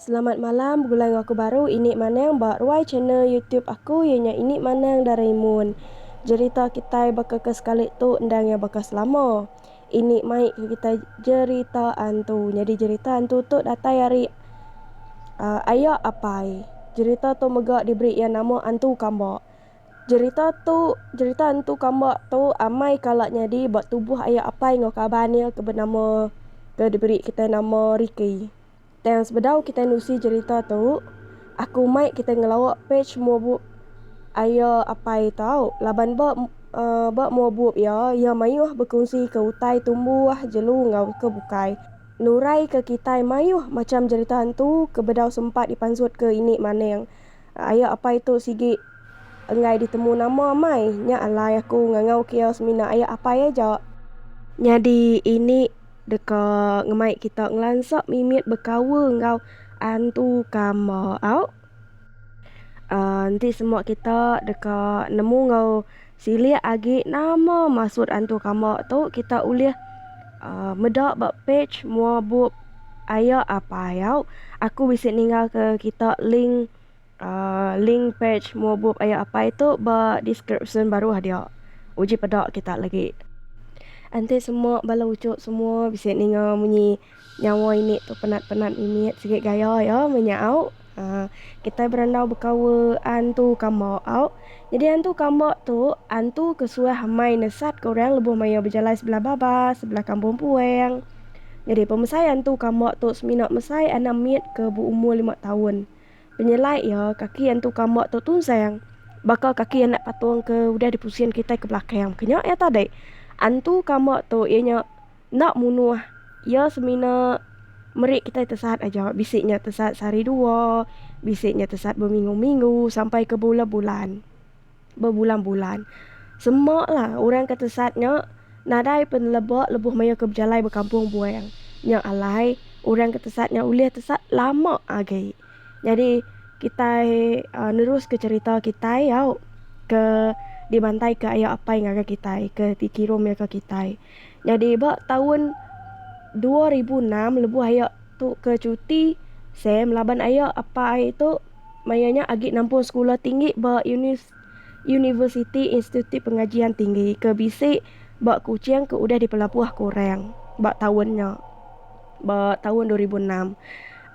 Selamat malam begulai enggau aku baru ini manang ba ruai channel youtube aku iya nya ini manang Doraemon jerita kitai baka ke sekali tu endang iya baka selama. Ini mai ke kitai jerita antu. Nyadi jerita antu tu datai ari aya apai. Jerita tu mega diberi iya nama Antu Kamba. Jerita tu jerita antu kamba tu amai kala nyadi ba tubuh aya apai enggau kaban iya ke benama ke diberi kitai nama Riki. Tang sebedau kitai nusi jerita tu, aku mai kitai ngelawa page muabu Aya Apai tau laban ba ba muabup iya, iya mayuh bekunsika utai tumbuh, jelu enggau ke bukai. Nuraika kitai mayuh macham jerita antu ke bedau sempat dipansutka ini maning. Aya Apai tu sigi enggai ditemu nama amai, nya alai aku ngangauka iya semina Aya Apai aja. Nyadi ini. Deka ngemai kita ngelansa mimit bekaul enggau antu kama au. Uh, enti semua kita deka nemu enggau silik agi nama maksud antu kama tu, kita ulih uh, meda ba page mua bup Aya Apai au. Aku bisi ninggalka kita link. Link pej mua bup Aya Apai tu ba deskripsyen baruh dia. Uji peda kita lagi. Enti semua bala uchu semua bisi ninga munyi nyawa ini tu penat-penat mimit sigi gaya iya meh nya au. Aa kitai berandau bekawa antu kamba au. Nyadi antu kamba tu antu ke suah amai nesatka orang lebuh maya bejalai sebelah baba sebelah kampung puang. Nyadi pemesai antu kamba tu semina mesai anak mit ke beumur lima taun. Penyelai iya, kaki Entu Kamba tu tunsang baka kaki anak patung ke udah dipusin kitai ke belakang. Bukan nya iya tadi. Entu Kamba tu iya nya enda munuh. Iya semina meri kitai tesaat aja. Bisi nya tesaat sehari dua, bisi nya tesaat beminggu-minggu sampai ke bulan-bulan. bebulan-bulan. Semakla orang ke tesat nya nadai peneleba lebuh mayuh ke bejalai ba Kampung Buang. Nya alai orang ke tesat nya ulih tesat lama agi. Nyadi kitai uhh neruska cherita kitai au ke dibantai ke ayo apai ngagai kitai ke dikirumika kitai. Nyadi ba taun dua ribu enam lebuh iya tu ke cuti Sam laban iya apai tu maya nya agi nampung sekula tinggi ba Unis Universiti Institut Pengajian Tinggi ke bisi ba Kuching ke udah dipelabuh ke orang ba taun nya ba taun dua ribu enam.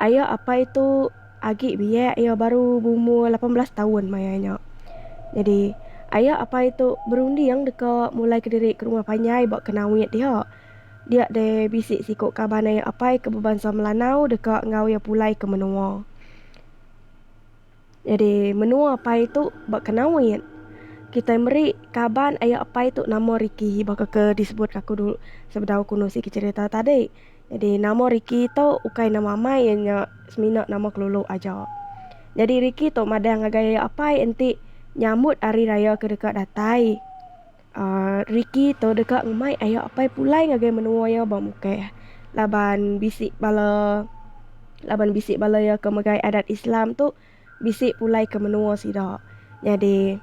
Iya apai tu. Agi biak iya baru beumur lapan belas taun maya nya. Nyadi, ayak apai tu berunding deka mulaika diri ke rumah panjai ba Kenawit dia. Dia deh bisi siku kaban ayak apai ke bebansa Melanau deka enggau iya pulai ke menua. Nyadi, menua apai tu ba Kenawit. Kitai meri kaban ayak apai tu nama Ricky baka ke disebut aku dulu sebedau aku nusi ke cherita tadi. Nyadi nama Ricky tu ukai nama amai iya nya semina nama kelulu aja. Nyadi Ricky tu madah ngagai apai enti nyambut hari raya ke deka datai. uhh Ricky tu deka ngemai ayo apai pulai ngagai menua iya ba Mukeh laban bisi bala laban bisi bala iya ke megai adat Islam tu bisi pulai ke menua sida. Nyadi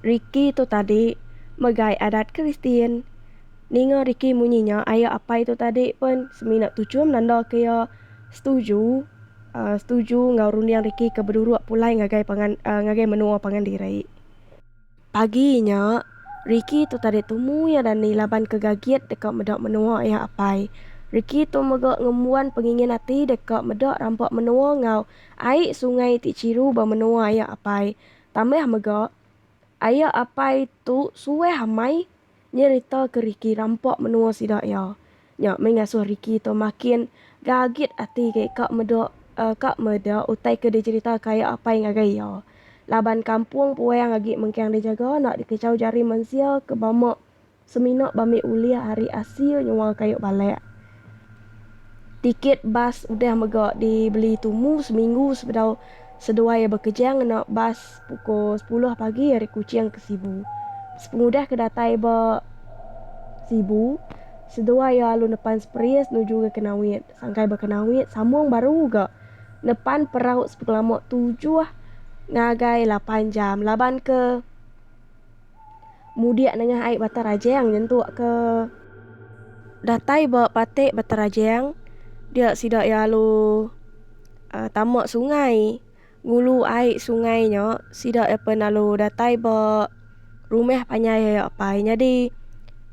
Ricky tu tadi megai adat Kristian. Ninga Ricky munyi nya aya apai tu tadi pun semina tuchum nanda ke iya setuju setuju enggau runding Ricky ke beduruk pulai ngagai pangan ngagai menua pangan diri. Pagi nya Ricky tu tadi tumu iya dani laban ke gagit deka meda menua iya apai. Ricky tu mega ngembuan pengingin ati deka meda rampa menua enggau Ai sungai ti chiru ba menoa aya apai. Tambah mega, aya apai tu suah amai nyerita ke Ricky rampa menoa sida iya. Nya meh ngasoh Ricky tu makin gagit ati agi ka meda ka meda utai ke dicherita ka aya apai ngagai iya. Laban kampong puang agi mengkang dijaga enda dikechau jari mensia ke bama. Semina bambi ulih ari asil nyual kayu balak. Tiket bas udah mega dibeli tumu seminggu sebedau seduai iya bekeja ngena bas pukul sepuluh pagi ari Kuching ke Sibu. Sepengudah ke datai ba Sibu, seduai iya alu nepan Spris nuju ke Kenawit. Sangkai ba Kenawit, sambung baru ga nepan perau sepengelama tujuh ngagai lapan jam laban ke. Mudik nengah ai Batang Rajang nyentuk ke datai ba patik Batang Rajang, dia sida iya lalu tama sungai. Ngulu ai sungai nya, sida iya pen lalu datai ba rumah panjai ayo apai. Nyadi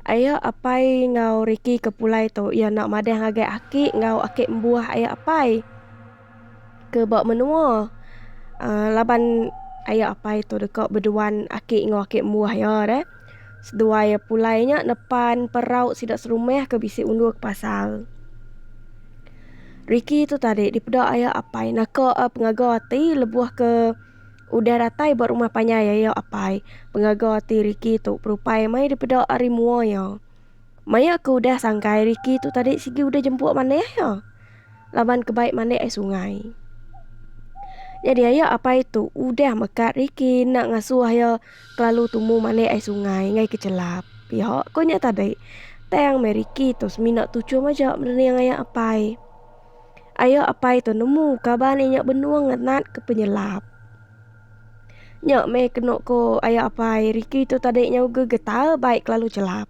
ayo apai enggau riki ke pulai tu, iya enda madah ngagai aki enggau aki embuh ayo apai. ke ba menua. Aaa laban aya apai tu deka beduan aki enggau aki embuh iya deh. Seduai iya pulai nya nepan perau sida serumah ke bisi undur ke pasar. Ricky tu tadi dipeda aya apai naka pengaga ati lebuh ke udah datai ba rumah panjai iya apai. Pengaga ati Ricky tu berupai meh dipeda ari mua iya. Maya ke udah sangkai Ricky tu tadi sigi udah jempu manah iya. laban ke baik mandik ai sungai. Nyadi aya apai tu udah mekat riki enda ngasuh iya kelalu tumu mandik ai sungai ngagai ke chelap. Piho ko nya tadi, tang meh riki tu semina tuchum aja merening aya apai. Aya apai tu nemu kaban inya benung ngenat ke penyelap. Nya meh kenu ko aya apai, riki tu tadi nyau gegetau baik kelalu chelap.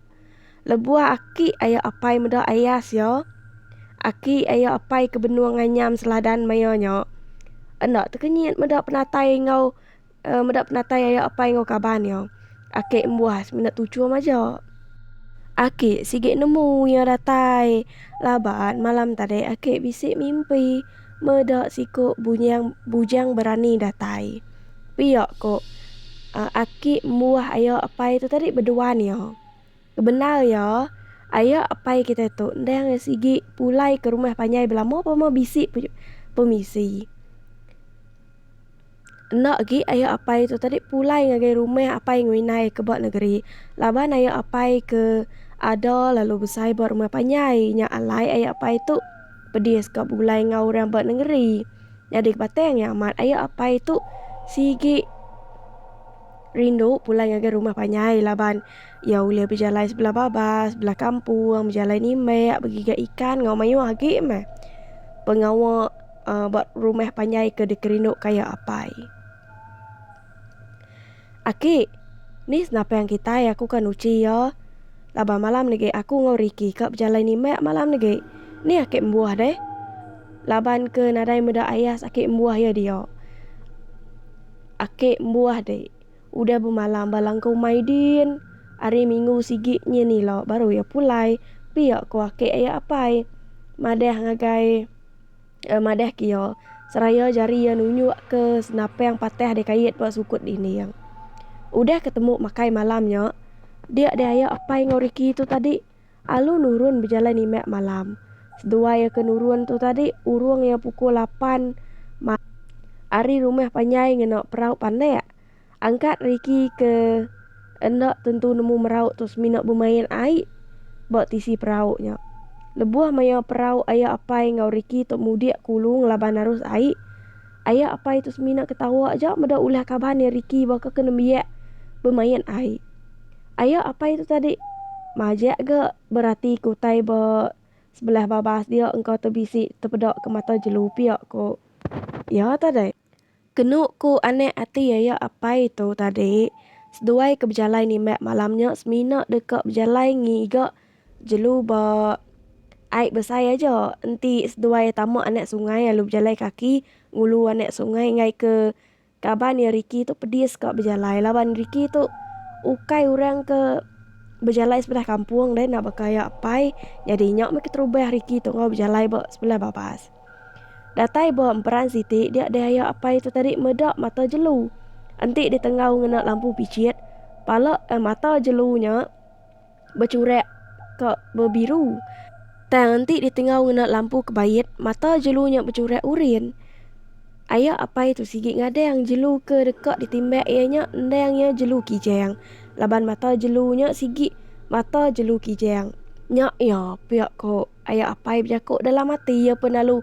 Lebuh aki ayo apai meda ayas iya, aki ayo apai ke benung nganyam seladan maioh nya enda tekenyit meda penatai enggau meda penatai ayo apai enggau kaban iya. Aki embuas menda tuchum aja. Aki sigi nemu iya datai laban malam tadi aki bisi mimpi meda siku bunyang bujang berani datai. Pia ko aki embuah ayo apai tu tadi beduan iya. Ke bendar iya, aye apai kitai tu enda angai sigi pulai ke rumah panjai belama pun meh bisi pemisi. Enda agi aye apai tu tadi pulai ngagai rumah apai ngau indai ke ba negeri. Laban aye apai ke ada lalu besai ba rumah panjai nya alai aye apai tu pedis ka begulai enggau orang ba nengeri. Nyadi ke batang iya amat, aye apai tu sigi rindu pulai ngagai rumah panjai laban. Iya ulih bejalai sebelah babas, sebelah kampung, bejalai nimbek, begiga ikan enggau mayuh agi meh pengawa uh, ba rumah panjai ke dikerindu kaya apai. Aki, ni senapang kitai aku kan uchi iya. Laban malam nege aku enggau Riki ka bejalai nimbek malam nege. Ni aki embuh deh. Laban ke nadai meda ayas aki embuh iya dia. Aki embuh deh. Udah bemalam ba langkau Maidin. Ari minggu sigi nyin ila baru iya pulai. Pia ko ake iya apai. Madah ngagai eh madah ke iya seraya jari iya nunjuk ke senapang patah deh kait ba sukut dinding. Udah ketemu makai malam nya, dia deh iya apai enggau Ricky tu tadi. Alu nurun bejalai nimak malam. Seduai iya ke nurun tu tadi urung iya pukul lapan malam ari rumah panjai ngena perau panak. Angkat Ricky ke enda tentu nemu merau tu semina bemain ai ba tisi perau nya. Lebuh maya perau aya apai enggau Ricky tu mudik kulu ngelaban arus ai. Aya apai tu semina ke tawa aja meda ulah kaban iya Ricky baka ke nembiak bemain ai. Aya apai tu tadi majak ga berati ke utai ba sebelah babas dia engka te bisi tepeda ke mata jelu pia ko iya tadi. Kenu ko anak ati aya apai tu tadi seduai ke bejalai nimbak malam nya semina deka bejalai ngiga. Jelu ba ai besai aja enti seduai tama anak sungai lalu bejalai kaki ngulu anak sungai enggai ke kaban iya Ricky tu pedis ka bejalai laban Ricky tu ukai orang ke bejalai sebelah kampung deh nak baka iya apai nyadi inya meh keterubah Ricky tu enggau bejalai ba sebelah babas. Datai ba emperan siti dia deh iya apai tu tadi meda mata jelu enti ditenggau ngena lampu pichit pala mata jelu nya bechurak ka bebiru. Tang enti ditengau ngena lampu kebait, mata jelu nya bechurak urin. Aya apai tu sigi ngadang jelu ke deka ditimbak iya nya endang iya jelu kijang. Laban mata jelu nya sigi mata jelu kijang. Nya iya pia ko aya apai bejako dalam ati iya pun lalu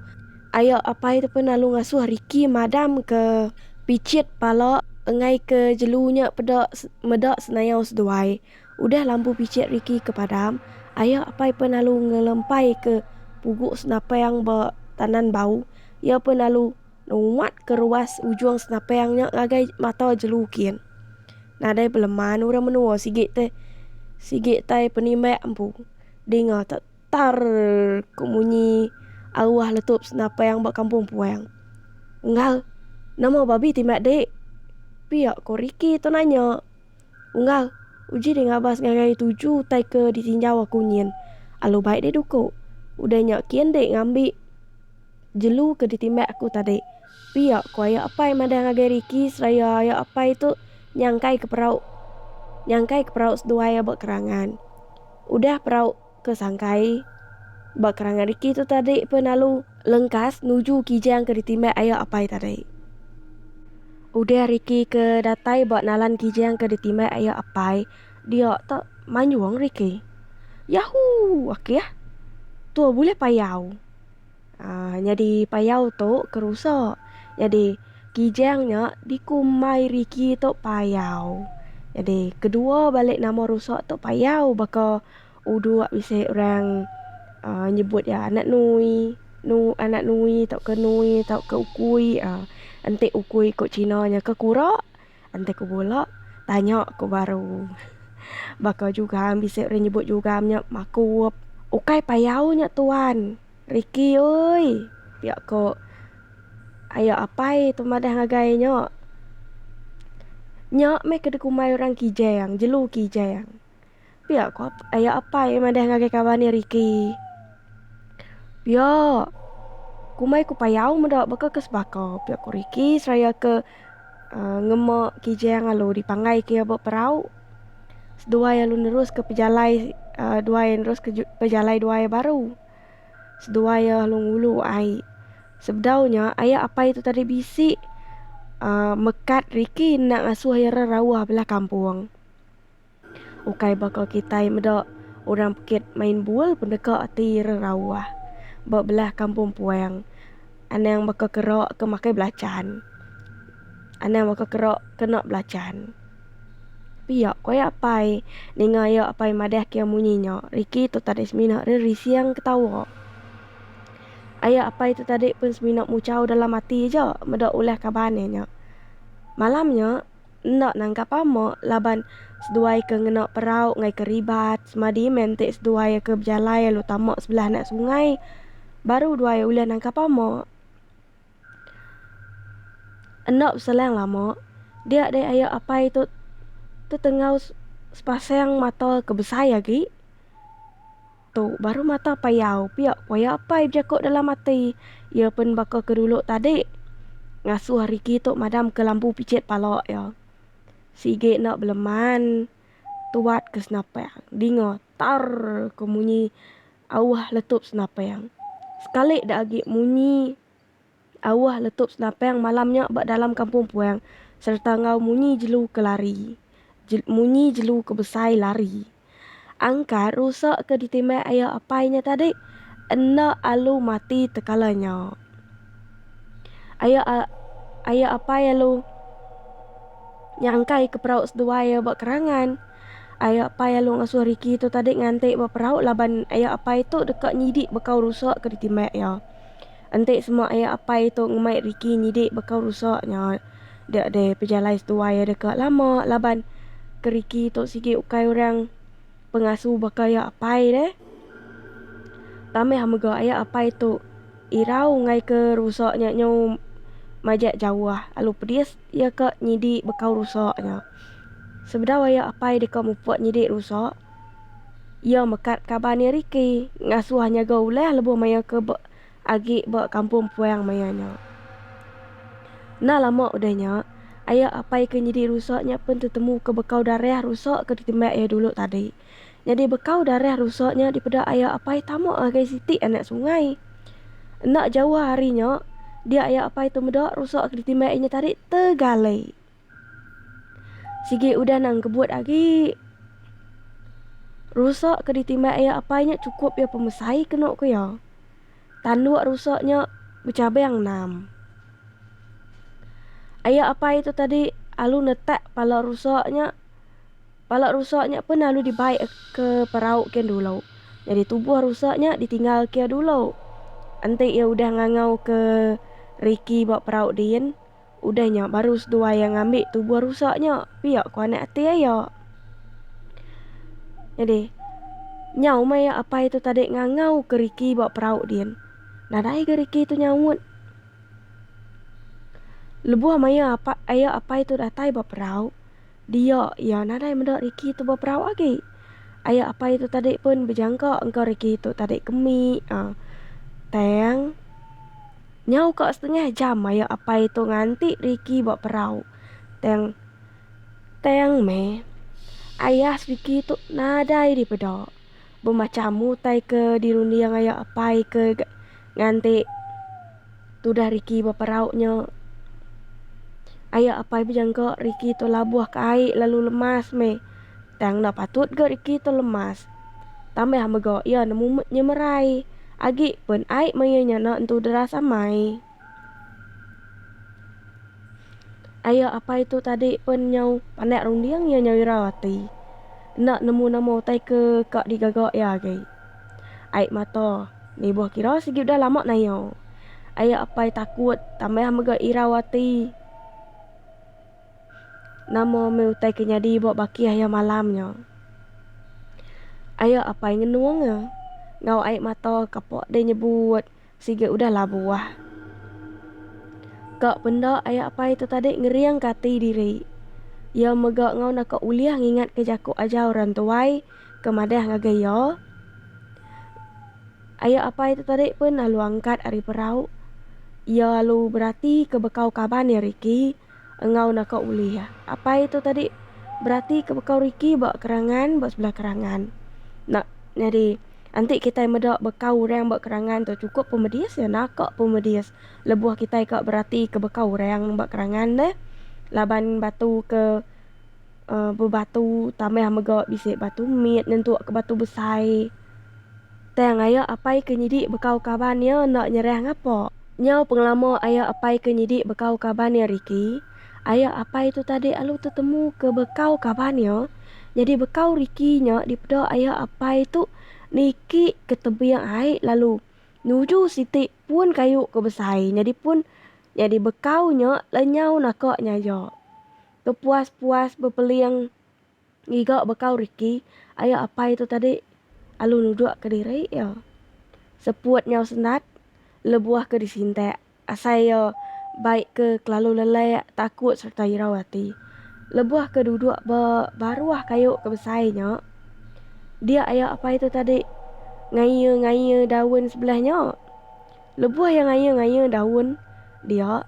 aya apai tu pun lalu ngasuh Ricky madam ke pichit pala engai ke jelu nya peda meda senayau seduai. Udah lambu bicik Ricky ke padam, ayah apai pen lalu ngelempay ke pugu senapang ba tanan bau. Iya pen lalu numat ke ruas ujung senapang nya ngagai mata jelu kin. Nadai beleman orang menua sigi te sigi tai penimbak empu. Dinga te tarrrrrrr ko munyi aruah letup senapang ba kampung puang. Unggal, nama babi timbak dek? Pia ko Ricky tu nanya. Unggal, uji deh ngabas ngagai tuju utai ke ditinjau aku nyin. Alu bai deh duku. Udah nya kin deh ngambi jelu ke ditimbak aku tadi. Pia, ku aya apai madah ngagai Ricky seraya aya apai tu nyangkaika perau nyangkaika perau seduai aba kerangan. Udah perau. Ke sangkai, ba kerangan riki tu tadi pen alu lengkas nuju Kijang ke ditimbak aya apai tadi. Udah riki ke datai ba nalan Kijang ke ditimbak aya apai dia tu manjung riki. Yahoo! Akih. Tu bulih payau. Aa nyadi payau tu ke rusa. Nyadi Kijang nya dikumbai riki tu payau. Nyadi kedua balik nama rusa tu payau baka. Uduk bisi orang nyebut iya anak Nui, Nu anak Nui tauka Nui tauka Ukui. Enti Ukui ku Cina nya ke kura. Enti ku bala tanya ku baru. Baka Jugam bisi orang nyebut Jugam nya makup. Ukai payau nya tuan. Ricky oi pia ku ayak apai tu madah ngagai nya. Nya meh ke dikumbai orang Kijang, jelu Kijang. Pia ko ayo apai madah ngagai kawan iya Ricky. Pia. Kumai ku payau meda baka ke sebaka, pia ko Ricky seraya ke uh, ngema Kijang lalu dipanggai ke iya ba perau. Seduai lalu nerus ke pejalai uh, duai nerus ke pejalai duai baru. Seduai iya lalu ngulu ai. Sebedau nya ayo apai tu tadi bisi uh, mekat Ricky enda ngasuh iya rauh belah kampung. Ukai baka kitai meda orang bukit main bul pun deka ati ira rauh. Ba belah kampung puang anang baka kera ke makai belachan. Anang baka kera kena belachan. Pia ku aya apai ninga iya apai madah ke iya munyi nya. Riki tu tadi semina ira rising ketawa. Aya apai tu tadi pun semina muchau dalam ati aja meda ulah kaban iya nya. Malam nya. enda nangkap ama laban seduai ke ngena perau ngai keribat semadi meh enti seduai ke bejalai lalu tama sebelah anak sungai baru duai ulih nangkap ama. Enda beselang lama dia deh aya apai tu tetengau sepasang mata ke besai agi. Tu baru mata payau pia koya apai bejako dalam ati iya pen baka ke dulu tadi ngasuh Ricky tu madam ke lambu picit pala iya. Sigi enda beleman tuat ke senapang dinga tarrr ke munyi auh letup senapang sekali da agi munyi. Awah letup senapang malam nya ba dalam kampung puang sereta enggau munyi jelu ke lari je munyi jelu ke besai lari. Angkat rusa ke ditimbai aya apai nya tadi enda alu mati tekala nya. Aya a aya apai alu nyangkai ke perau seduai iya ba kerangan. Aya apai alu ngasuh Ricky tu tadi nganti ba perau laban aya apai tu deka nyidi bekau rusa ke ditimbai iya. Enti semua aya apai tu ngemai Ricky nyidi baka rusa nya dek deh pejalai seduai deh ka lama laban ke Ricky tu sigi ukai orang pengasu baka ya apai deh tambah mega aya apai tu irau enggai ke rusa nya nyu majak jauh alu pedis ya ka nyidi baka rusa nya sebedau aya apai deka mupuk nyidi rusa. Iya mekat kaban iya Ricky ngasuh nyaga ulah lebuh maya ke ba agi ba kampung puang maya nya. Enda lama udah nya, aya apai ke nyidi rusa nya pen tetemu ke bekau darah rusa ke ditimbak iya dulu tadi. Nyadi bekau darah rusa nya dipeda aya apai tama ngagai siti anak sungai. Enda jauh ari nya, dia aya apai tu meda rusa ke ditimbak inya tadi tegalai. Sigi udah nang kebut agi. Rusa ke ditimbai iya apai nya chukup iya pemesai kenu ku iya. Tanduk rusa nya bechabang enam. Iya apai tu tadi alu netak pala rusa nya. Pala rusa nya pun alu dibai ke perau kian dulu. Jadi tubuh rusa nya ditinggal ke iya dulu. Enti iya udah ngangau ke riki ba perau din, Udah nya baru seduai iya ngambi tubuh rusak nya pia ku anak ati iya. Nyadi, nyau meh iya apai tu tadi ngangau ke Ricky ba perau din. Nadai ga Ricky tu nyaut. Lebuh maya apa iya apai tu datai ba perau, dia iya nadai meda Ricky tu ba perau agi. Iya apai tu tadi pun bejangka engka Ricky tu tadi ke mi. Aaa, tang. Nyau ka setengah jam maya apai tu nganti Ricky ba perau. Tang tang meh. Ayah Ricky tu nadai dipeda. Bemacham utai ke dirunding aya apai ke nganti tudah Ricky ba perau nya. Aya apai bejengka Ricky tu labuh ka ai lalu lemas meh. Tang enda patut ga reti tu lemas. Tambah mega iya nemu nyemerai agi pen ai meh iya nya enda entu deras amai. Aya apai tu tadi pen nyau pandak runding iya nyau irau ati. Enda nemu nama utai ke ka digaga iya agi. Ai mata nibuh kira sigi udah lama nayo. Aya apai takut tambah mega irau ati. Nama meh utai ke nyadi ba baki ayo malam nya. Ayo apai ngenung e enggau ai mata ke pa deh nyebut sigi udah labuh. Ka penda ayo apai tu tadi ngeringka ati diri. Iya mega enggau naka ulih ngingatka jaku ajar orang tuai ke madah ngagai iya. Ayo apai tu tadi pun lalu angkat ari perau. Iya lalu beratika bekau kaban iya riki. enggau naka ulih. Apai tu tadi beratika bekau riki ba kerangan ba sebelah kerangan nak nyadi enti kitai meda bekau orang ba kerangan tu chukup pun medis iya naka pun medis lebuh kitai ka beratika bekau orang ba kerangan deh laban batu ke bebatu tambah mega bisi batu mit nyentuk ke batu besai. Tang aya apai ke nyidi bekau kaban iya enda nyerah ngapa. Nyau pengelama aya apai ke nyidi bekau kaban iya Ricky, aya apai tu tadi alu tetemu ke bekau kaban iya. Nyadi bekau Ricky nya dipeda aya apai tu niki ke tebing ai lalu nuju siti pun kayu ke besai nyadi pun nyadi bekau nya lenyau naka nyaja. Tepuas-puas bepeling. Ngiga bekau Ricky, aya apai tu tadi alu nuduk ke diri iya. Seput nyau sendat lebuh ke disintak asai iya bai ke kelalu lelak, takut sereta irau ati. Lebuh ke duduk ba baruh kayu ke besai nya, dia aya apai tu tadi ngaie-ngaie daun sebelah nya. Lebuh iya ngaya-ngaya daun dia,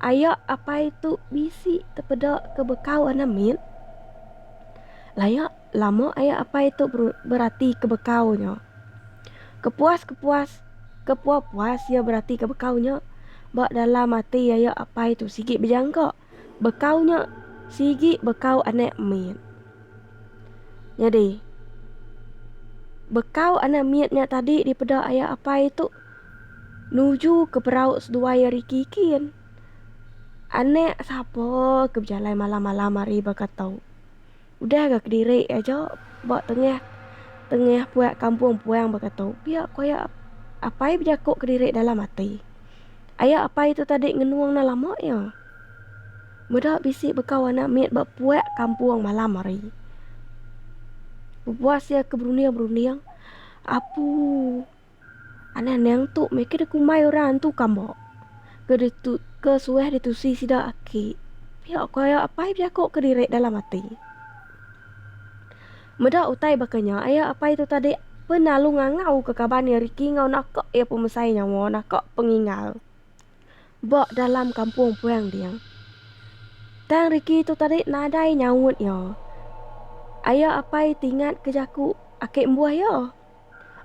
ayak apai tu bisi tepeda ke bekau anak mit. Layak lama ayak apai tu berati ke bekau nya. Kepuas-kepuas kepuas-puas iya berati ke bekau nya, ba dalam ati ayak apai tu sigi bejangka Bekau nya sigi bekau anak mit. Nyadi bekau anak mit nya tadi dipeda aya apai tu nuju ke perau seduai ari kikin. Anak sapa ke bejalai malam-malam ari baka tu. Udah ga kediri aja ba tengah tengah puak kampung puang baka tu. Pia ku aya apai bejaku kediri dalam ati. Aya apai tu tadi ngenung enda lama iya. Meda bisi baka warna mit ba puak kampung malam hari. Bebuas iya ke berunding-berunding. Apu. Anang nang tu meh ke dikumbai orang antu kambok. Ke ditu ke suah ditusi sida aki. Pia ko aya apai bejaku ke diri dalam ati. Meda utai baka nya aya apai tu tadi penalu ngangau ke kaban iya Ricky enggau naka iya pemesai nyawa naka pengingal ba dalam kampung puang ding. Tang Ricky tu tadi nadai nyaut iya. Aya apai ti ingat ke jaku aki mbuh iya.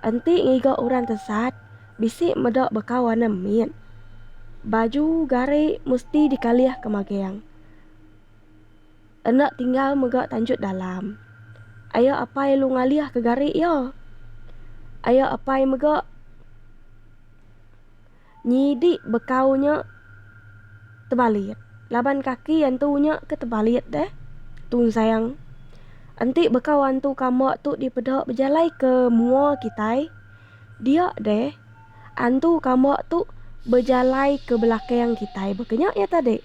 Enti ngiga orang tesat, bisi meda baka warna mit. Baju gari mesti dikalih ke magang. Enda tinggal mega tanjut dalam. Aya apai lu ngalih ke gari iya. Aya apai mega. Nyidi bekau nya tebalit laban kaki antu nya ke tebalit deh tunsang. Enti bekau antu kamba tu dipeda bejalai ke mua kitai dia deh antu kamba tu bejalai ke belakang kitai baka nya iya tadi.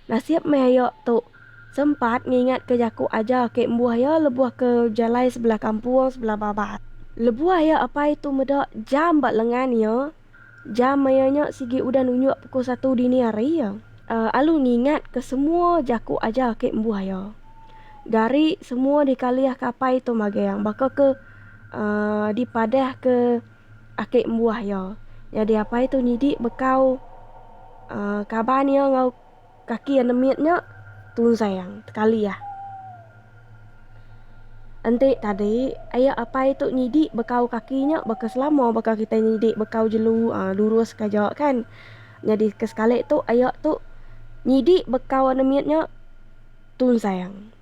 Nasib meh iya tu sempat ngingat ke jaku aja ake mbuh iya lebuh ke bejalai sebelah kampung sebelah babas. Lebuh iya apai tu meda jam ba lengan iya. Jam maya nya sigi udah nunjuk pukul satu dini hari. Alu ngingat ke semua jaku aja ake embuh iya. Gari semua dikalih ke apai tu magang baka ke dipadah ke ake embuh iya. Nyadi apai tu nyidi bekau kaban iya enggau. Kaki iya nemit nya tunsang tekalih. Enti tadi aya apai tu nyidi bekau kaki nya baka selama baka kitai nyidi bekau jelu uhh lurus ka aja kan. Nyadi ke sekali tu aya tu nyidi bekau nemit nya tunsang.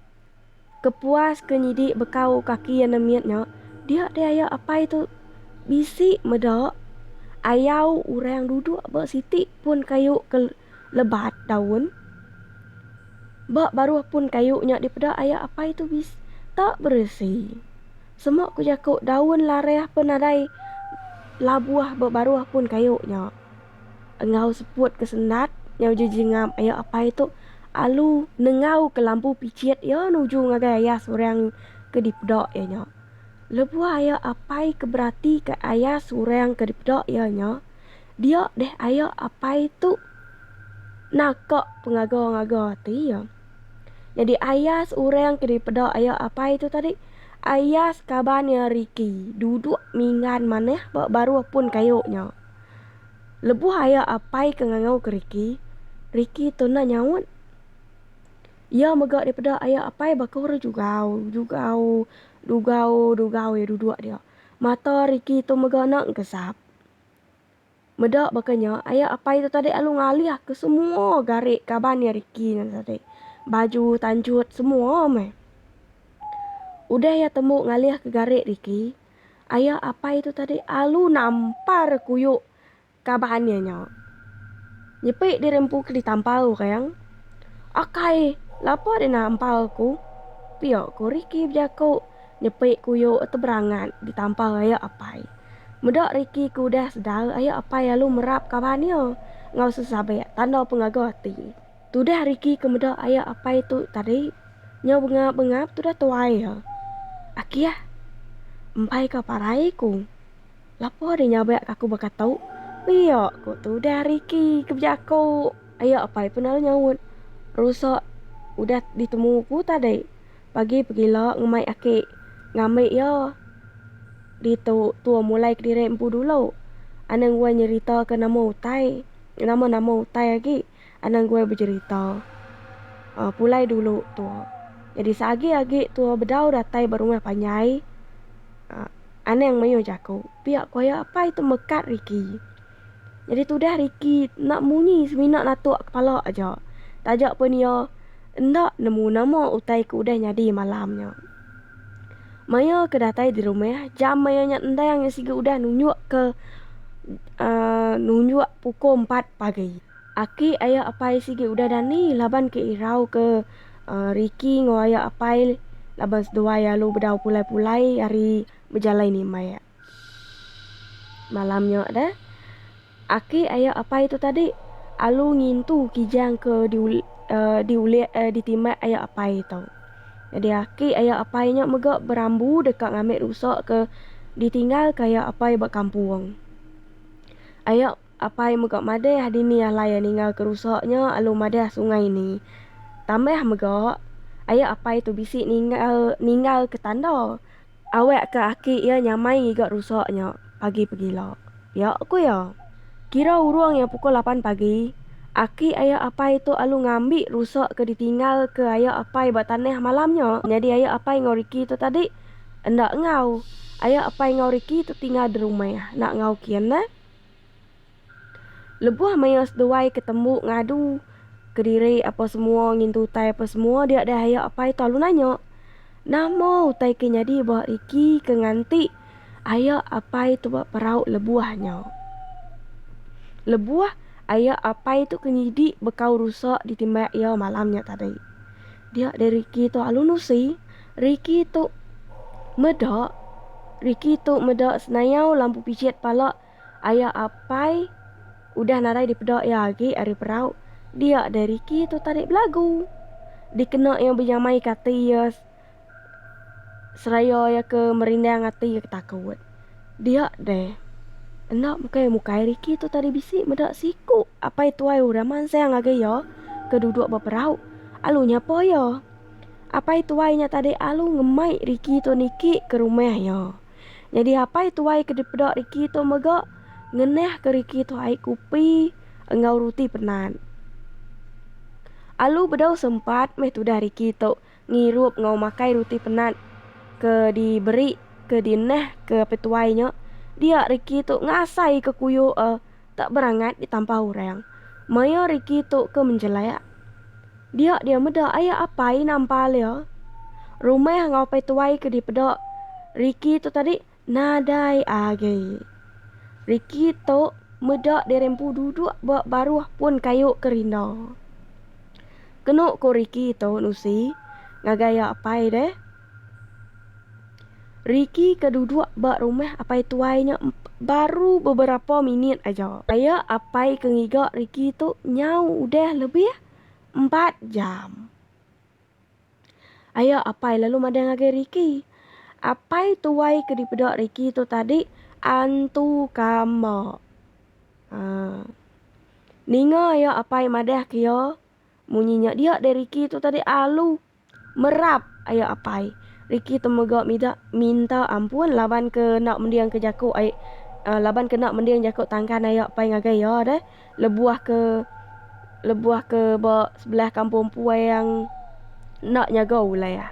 Kepuas ke nyidi bekau kaki iya nemit nya dia deh aya apai tu bisi meda ayau orang duduk ba siti pun kayu ke lebat daun. Ba baruh pun kayu nya dipeda aya apai tu bis ta beresi. Sema ku jaku daun lareh pe nadai labuh ba baruh pun kayu nya. Enggau seput ke sendat nyau uji jingam ayo apai tu alu nengau ke lampu pichit iya nuju ngagai ayas orang ke dipeda iya nya. Lebuh ayo apai ke beratika ayas orang ke dipeda iya nya, dia deh ayo apai tu naka pengaga-ngaga ati iya. Nyadi ayas orang ke dipeda ayo apai tu tadi ayas kaban iya Ricky duduk minggan manah ba baruh pun kayu nya. Lebuh aya apai ke ngangau ke Ricky, Ricky tu enda nyaut. Iya mega daripada aya apai baka orang jugau, jugau, dugau, dugau iya duduk dia. Mata Ricky tu mega enda engkesap. Meda baka nya, aya apai tu tadi lalu ngalih ke semua gari kaban iya Ricky nya tadi. Baju, tanjut, semua meh. Udah iya tembu ngalih ke gari Ricky, Aya apai tu tadi alu nampar kuyu kaban iya nya. Nyepi diri empu ke ditampar orang. Akai, lapa deh nampar aku? Pia ku Ricky bejaku nyepi kuyu tu berangat ditampar aya apai. Meda Ricky ke udah sedar aya apai alu merap kaban iya enggau sesabik tanda pengaga ati. Tudah Ricky ke meda aya apai tu tadi nyau bengap-bengap tudah tuai iya. Akiah. Empai ka parai ku. Lapa deh nyabak aku baka tu. Pia ku tudah Ricky ke bejaku. Aya apai pun lalu nyaut. Rusak udah ditemu ku tadi. Pagi pegila ngemai aki ngambi iya. Ditu tua mulai kediri empu dulu. Anang wai nyerita ke nama utai. Nama-nama utai agi. anang guai bejerita. Aaa pulai dulu tu jadi seagi agi tu bedau datai ba rumah panjai aaa anang mayuh jaku pia ku iya apai tu mekat riki. Jadi tudah riki enda munyi semina natuk kepala aja taja pun iya enda nemu nama utai ke udah nyadi malam nya. Maya ke datai di rumah, jam maya nya endang iya sigu udah nunjuk ke nunjuk puku empat pagi. Aki aya apai sigi udah dani laban ke irau ke Ricky enggau aya apai laban seduai alu bedau pulai-pulai ari bejalai nimbai. Malam nya deh, aki ayo apai tu tadi alu ngintu kijang ke diul diulih ditimbak ayo apai tu. Jadi aki ayo apai nya mega berambu deka ngambi rusa ke ditinggal ke ayo apai ba kampung. Ayo apai mega madahka dini alai iya ninggal ke rusa nya lalu madahka sungai ni. Tambah mega, ayo apai tu bisi ninggal ninggal ke tanda. Awak ke aki iya nyamai ngiga rusa nya pagi pegila. Pia ku iya, kira urung iya pukul lapan pagi, aki aya apai tu alu ngambi rusa ke ditinggal ke aya apai ba tanah malam nya. Nyadi aya apai enggau Ricky tu tadi enda enggau. Aya apai enggau Ricky tu tinggal di rumah enda enggau kian neh. Lebuh maya seduai ke tembu ngadu kediri apa semua ngintu utai apa semua dia deh aya apai tu lalu nanya, Nama utai ke nyadi ba Ricky ke nganti aya apai tu ba perau lebuh nya? Lebuh aya apai tu ke nyidi bekau rusa ditimbak iya malam nya tadi. Dia deh Ricky tu lalu nusi, Ricky tu meda Ricky tu meda senayau lampu pijit pala. Aya apai udah nadai dipeda iya agi ari perau, dia deh Ricky tu tadi belagu. Dikena iya benyamaika ati iya seraya iya ke merindang ati iya ke takut. Dia deh. Enda bukai mukai Ricky tu tadi bisi meda siku apai tuai orang mansang ngagai iya ke duduk ba perau alu nyapa iya. Apai tuai nya tadi alu ngemai Ricky tu niki ke rumah iya. Nyadi apai tuai ke dipeda Ricky tu mega ngenahka Ricky tu ai kupi enggau ruti penan. Alu bedau sempat meh tudah Ricky tu ngirup enggau makai ruti penan ke diberi ke dinahka apai tuai nya, dia Ricky tu ngasaika kuyuh a. Tak berangat ditampah orang. Maya Ricky tu ke menjelak. Dia dia meda aya apai nampal dia. Rumah enggau pai tuai ke dipeda Ricky tu tadi nadai agi. Ricky tu meda diri empu duduk ba baruh pun kayu ke rinda. Kenu ku Ricky tu nusi ngagai iya apai deh. Ricky ke duduk ba rumah apai tuai nya baru beberapa minit aja. Paya apai ke ngiga Ricky tu nyau udah lebih empat jam. Aya apai lalu madang ngagai Ricky. Apai tuai ke dipeda Ricky tu tadi antu kamba. Haa. Ninga aya apai madah ke iya, munyi nya dia deh Ricky tu tadi alu. Merap, ayo apai. Ricky tu mega mida minta ampun laban ke enda mending ke jaku ai laban ke enda mending jaku tangkan ai apai ngagai iya deh. Lebuh ke lebuh ke ba sebelah kampung empu ayang enda nyaga ulai ah.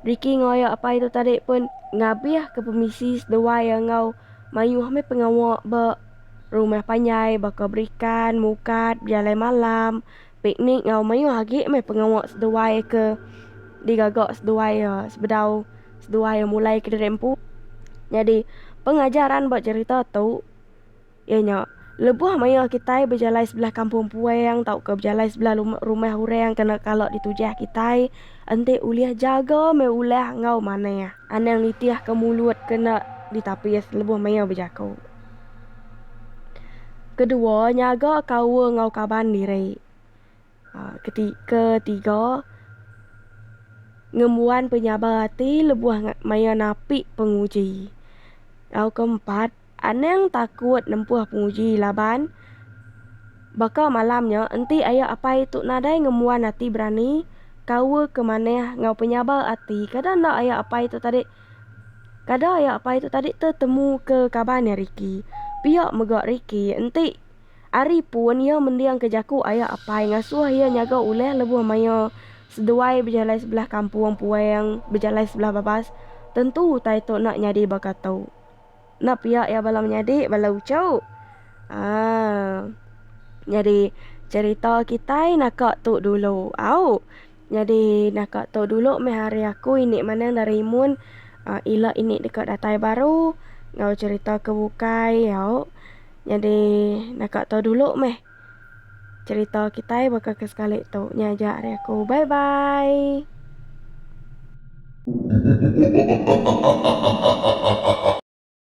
Ricky enggau ayo apai tu tadi pun ngabih ke pemisi seduai iya enggau mayuh meh pengawa ba rumah panjai baka berikan, mukat, bejalai malam. Piknik enggau mayuh agi meh pengawa seduai ke digaga seduai e sebedau seduai e mulai kediri empu. Nyadi pengajaran ba cherita tu iya nya lebuh maya kitai bejalai sebelah kampung puang tauka bejalai sebelah lum rumah orang kena kala ditujah kitai enti ulih jaga meh ulah enggau manah. Anang nitihka mulut kena ditapis lebuh maya bejaku. Kedua, nyaga kaul enggau kaban diri. Keti ketiga, ngembuan penyabar ati lebuh maya napi penguji. Tau keempat, anang takut nempuh penguji laban baka malam nya enti ayo apai tu nadai ngembuan ati berani, kaul ke manah enggau penyabar ati. Kada enda ayo apai tu tadi. Kada aya apai tu tadi te temu ke kaban iya Ricky. Pia mega Ricky enti ari pun iya mending ke jaku aya apai ngasuh iya nyaga ulih lebuh maia seduai bejalai sebelah kampung puang bejalai sebelah babas tentu utai tu enda nyadi baka tu. Enda pia iya bala menyadi bala uchu. Haa. Nyadi cherita kitai naka tu dulu. Au. Nyadi naka tu dulu meh ari aku indi manang dari imun ila indi deka datai baru enggau cherita ke bukai au. Nyadi naka tu dulu meh cherita kitai baka ke sekali tu. Nya aja ari aku. Bye bye.